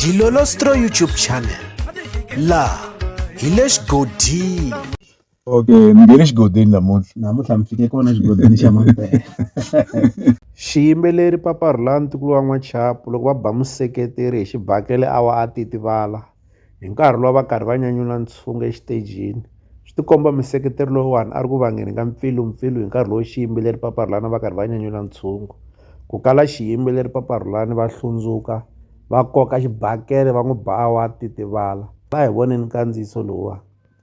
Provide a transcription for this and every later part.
Dilolostro YouTube channel la hi le xigodini okay mi nge le xigodini namuntlha namuntlha mi fike kona xigodini xa mampela xiyimbeleri paparhula ntukulu wa n'wachapu loko va ba museketeri hi xibakele a wa a titivala Hi nkarhi lowu a va karhi va nyanyula ntshungu exitejini, swi tikomba museketeri loyiwani a ri ku vangeni ka mpfilumpfilu hi nkarhi lowu xiyimbeleri Papa Rhulani a va karhi va nyanyula ntshungu. Ku kala xiyimbeleri Papa Rhulani va hlundzuka, va koka xibakele va n'wi ba a wa titivala. A hi voneni nkandziyiso lowuwani.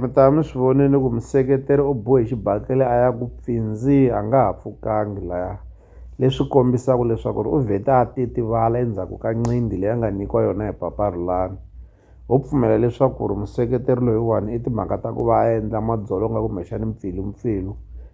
mi ta va mi swi vonile ku museketeri u bohe xibakele a ya ku pfinzi a nga ha pfukangi laya leswi kombisaka leswaku ri u vhete a titivala endzhaku ka nqindi leyi a nga nyikiwa yona hi papa Rhulani ho pfumela leswaku ri museketeri loyiwani i timhaka ta ku va a endla madzolonga kumbexani mpfilumpfilu.